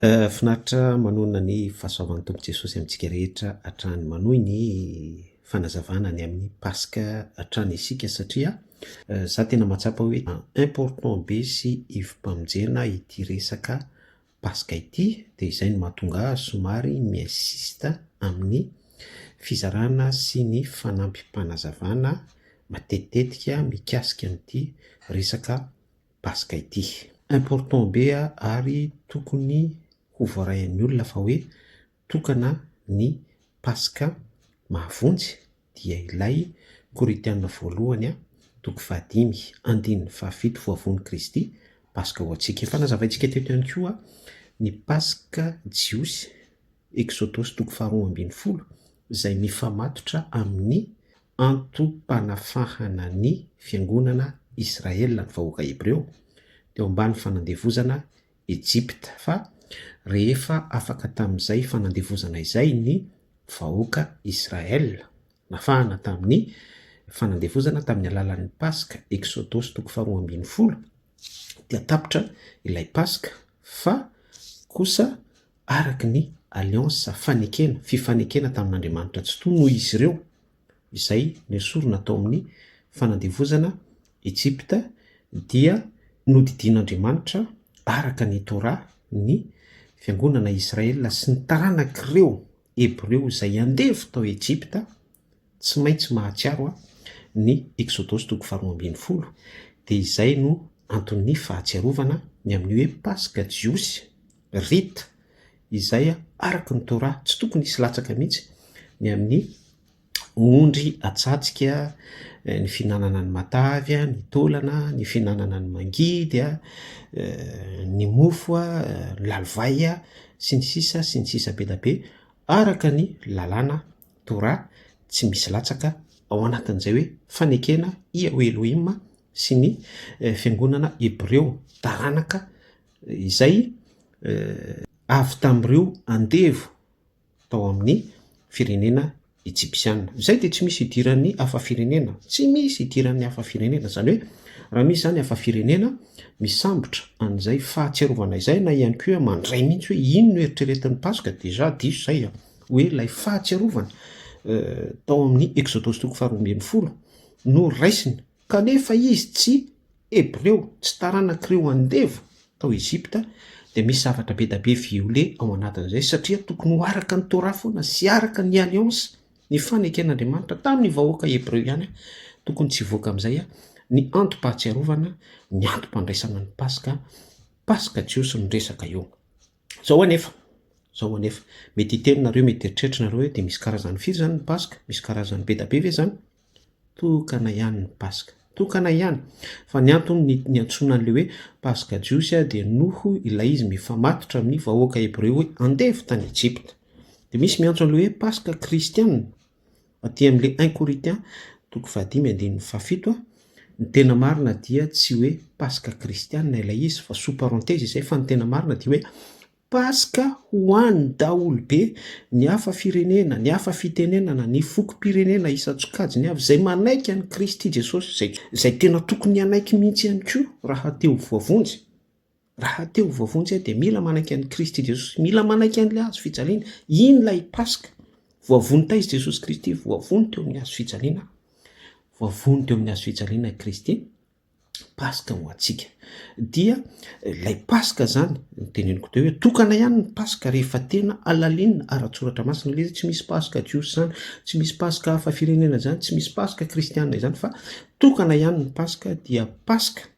Finaritra manonona ny fahasoavan'ny Tompo Jesosy amintsika rehetra hatrany manohy ny fanazavana ny amin'ny Paska hatrany isika satria za tena mahatsapa hoe important be sy ivom-pamonjena ity resaka Paska ity dia izay no mahatonga ahy somary mi-insiste amin'ny fizarana sy ny fanampim-panazavana matetitetika mikasika an'ity resaka paska ity. Important be a ary tokony ho voaray an'ny olona fa hoe tokana ny paska mahavonjy dia ilay korintiana voalohany a toko fahadimy andininy fahafito voavono kristy paska ho antsika efa nazavaintsika teto ihany koa ny paska jiosy eksodosy toko faharoa ambin'ny folo izay mifamatotra amin'ny antom-panafahana ny fiangonana Israel ny vahoaka hebreo teo ambany fanandevozana Egypta fa rehefa afaka tamin'izay fanandevozana izay ny vahoaka Israel nafahana tamin'ny fanandevozana tamin'ny alalan'ny Paska Exodosy toko faharoa ambin'ny folo dia tapitra ilay Paska fa kosa araka ny alliance, fanekena, fifanekena tamin'Andriamanitra Tsitoha noho izy ireo izay nesorina tao amin'ny fanandevozana Egypta dia nodidian'Andriamanitra araka ny Torah ny fiangonana Israel sy ny taranak'ireo Hebreo izay andevo tao Egypta Tsy maintsy mahatsiaro aho ny Eksodosy toko faharoa ambin'ny folo, dia izay no anton'ny fahatsiarovana ny amin'ny hoe Paska jiosy, Rite, izay araka ny Torah tsy tokony hisy latsaka mihitsy ny amin'ny ondry atsatsikya, ny fihinanana ny matavy, ny taolana, ny fihinanana ny mangidy a, ny mofo a, ny lalivay a, sy ny sisa sy ny sisa be dia be, araka ny lalàna. Torah tsy misy latsaka ao anatin'izay hoe fanekena i Yahweh Elohim sy ny fiangonana hebreo, taranaka izay avy tamin'ireo andevo tao amin'ny firenena Ejipsiana. Izay dia tsy misy idiran'ny hafa firenena, tsy misy idiran'ny hafa firenena. Izany hoe raha misy izany hafa firenena misambotra an'izay fahatsiarovana izay na ihany koa mandray mihitsy hoe ino no eritreretin'ny Paska, deja diso izay. hoe ilay fahatsiarovana tao amin'ny Eksodosy toko faharoa ambin'ny folo no raisina, kanefa izy tsy Hebreo, tsy taranak'ireo andevo tao Egypta, dia misy zavatra be dia be viole ao anatin'izay satria tokony ho araka ny Torah foana sy araka ny alliance nifaneken'Andriamanitra tamin'ny vahoaka Hebreo ihany tokony tsy hivoaka amin'izay ny antom-pahatsiarovana, ny antom-pandraisana ny Paska, Paska Jiosy no resaka eo. Izao anefa, izao anefa, mety hiteny nareo, mety hieritreritra nareo hoe dia misy karazany firy izany ny Paska? Misy karazany be da be ve izany? Tokana ihany ny Paska. Tokana ihany. Fa ny antony niantsoana an'ilay hoe Paska jiosy dia noho ilay izy mifamatotra amin'ny vahoaka hebreo hoe andevo tany Ejipta. Dia misy miantso an'ilay hoe Paska kristiana. Aty amin'ilay un Corinthiens toko fahadimy andininy fahafito, ny tena marina dia tsy hoe Paska kristiana ilay izy fa sous parenthèse izay fa ny tena marina dia hoe Paska ho an'ny daholobe, ny hafa firenena, ny hafa fitenenana, ny fokom-pirenena isan-tsokajiny avy izay manaiky an'i Kristy Jesosy, izay tena tokony hanaiky mihitsy ihany koa raha te ho voavonjy. Raha te ho voavonjy aho dia mila manaiky an'i Kristy Jesosy, mila manaiky an'ilay hazo fijaliana. Iny ilay Paska. Voavonjy taiza i Jesosy Kristy? Voavonjy teo amin'ny hazo fijaliana aho. Voavonjy teo amin'ny hazo fijaliana i Kristy. Paska ho antsika. Dia ilay Paska izany, teneniko teo hoe tokana ihany ny Paska rehefa tena alalinina ara-tsoratra masina ilay izy. Tsy misy Paska Jiosy izany, tsy misy Paska hafa firenena izany, tsy misy Paska Kristiana izany fa tokana ihany ny Paska dia Paska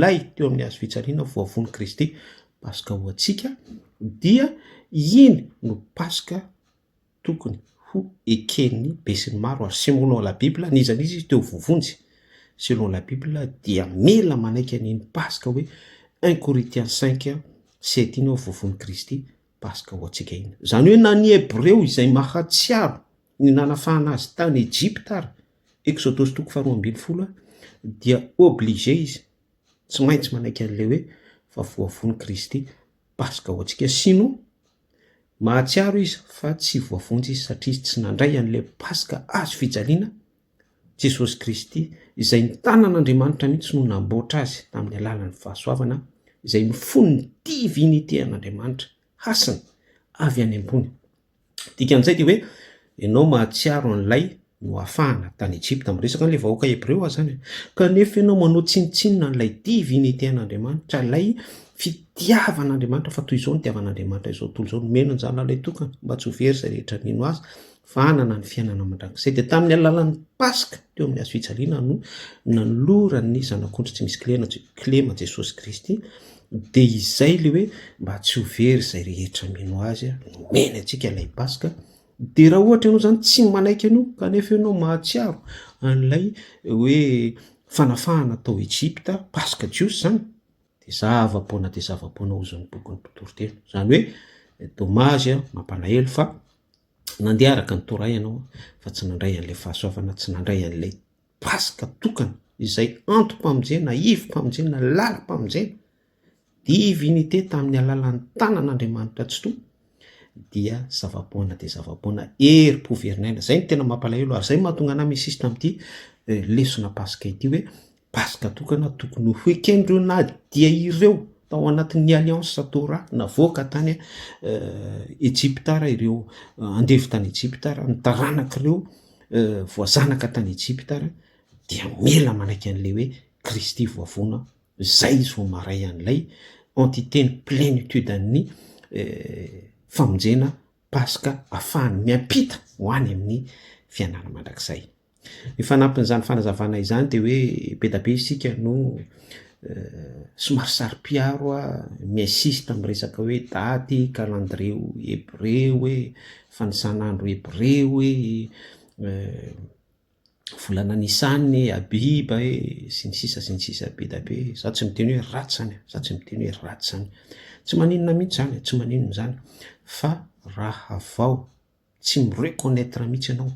lay teo amin'ny hazo fijaliana ho voavono Kristy, Paska ho antsika, dia iny no Paska tokony ho eken'ny besinimaro ary selon la bible n'iza n'iza izy teo vovonjy selon la bible dia mila manaiky an'iny Paska hoe un Corinthiens cinq sept iny hoe voavono Kristy, Paska ho antsika iny. Izany hoe na ny Hebreo izay mahatsiaro ny nanafahana azy tany Ejipta ary Exodosy toko faharoa ambin'ny folo dia obligé izy tsy maintsy manaiky an'ilay hoe fa voavono Kristy Paska ho antsika sinon mahatsiaro izy fa tsy voavonjy izy satria izy tsy nandray an'ilay Paska azo fijaliana Jesosy Kristy izay ny tanan'Andriamanitra mihitsy no namboatra azy tamin'ny alalan'ny fahasoavana izay ny fon'ny divinité an'Andriamanitra hasina avy any am-pony Dikan'izay dia hoe ianao mahatsiaro an'ilay noafahana tany Egypta, amin'ny resaka an'ilay vahoaka hebreo aza izany, kanefa ianao manao tsinontsinona an'ilay divinité an'Andriamanitra, ilay fitiavan'Andriamanitra fa toy izao ny itiavan'Andriamanitra izao tontolo izao, nomeny ny zanany ilay tokana mba tsy ho very izay rehetra mino azy fa hanana ny fiainana mandrakizay. Dia tamin'ny alalan'ny Paska teo amin'ny hazofijaliana no nanoloran'ny zanak'ondry tsy misy kilema Jesosy Kristy Dia izay ilay hoe mba tsy ho very izay rehetra mino azy a, nomeny antsika ilay Paska, dia raha ohatra ianao izany tsy manaiky an'io kanefa ianao mahatsiaro an'ilay hoe fanafahana tao Ejipta, Paska jiosy izany, dia zava-poana dia zava-poana hoy izao ny bokin'ny mpitory teny, izany hoe dommage a, mampalahelo fa nandeha araka ny Torah ianao fa tsy nandray an'ilay fahasoavana, tsy nandray an'ilay. Paska tokana izay antom-pamonjena, ivom-pamonjena, lalam-pamonjena, divinité tamin'ny alalan'ny tanan'Andriamanitra Tsitoha, dia zava-poana dia zava-poana herim-po verin'aina. Izay no tena mampalahelo ary izay no mahatonga anà mi-insiste amin'ity eh, lesona Paska ity hoe Paska tokana tokony ho hoeken'ireo na dia ireo tao anatin'ny alliance Torah navoaka tany eh, Ejipta ara ireo eh, andevo tany Ejipta ara ny taranak'ireo voazanaka tany Ejipta ary dia mila manaiky an'ilay hoe Kristy voavono aho, izay izy vao maray an'ilay entité ny plénitude an'ny famonjena paska afahany miampita ho any amin'ny fianana mandrakizay. Ny fanampin'izany fanazavana izany dia hoe be da be isika no somary saro-piaro a, mi-insiste amin'ny resaka hoe daty, calendrier hebreo hoe Fanisan'andro Hebreo e, volana Nissan e, Abiba e, sy ny sisa sy ny sisa be dia be. Izaho tsy miteny hoe ratsy izany e, izaho tsy miteny hoe ratsy izany. Tsy maninona mihitsy izany e, tsy maninona izany fa raha vao tsy mi-reconnaitre mihitsy ianao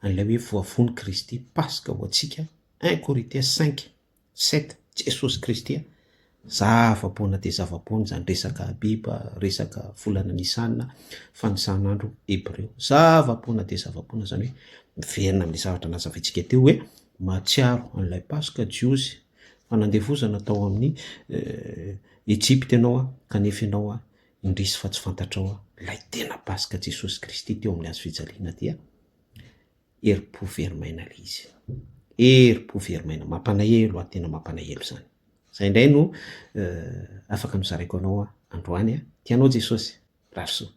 an'ilay hoe voavono Kristy Paska ho antsika, un Korintia cinq Sept, Jesosy Kristy a! Za afapoana dia zavapoana zany resaka Abiba, resaka volana Nisana, fanisan'andro Hebreo. Zavapoana dia zavapoana zany hoe miverina amin'ilay zavatra nazavaintsika teo hoe mahatsiaro an'ilay Paska Jiosy fa nandevozana tao amin'ny Ejipta ianao a, kanefa ianao a indrisy fa tsy fantatrao a, ilay tena Paska Jesosy Kristy teo amin'ny hazofijaliana dia Herim-po very maina ilay izy. Herim-po very maina, mampalahelo aho, tena mampalahelo izany. Izay indray no afaka nozaraiko anao androany an! Tianao Jesosy? Mirary soa.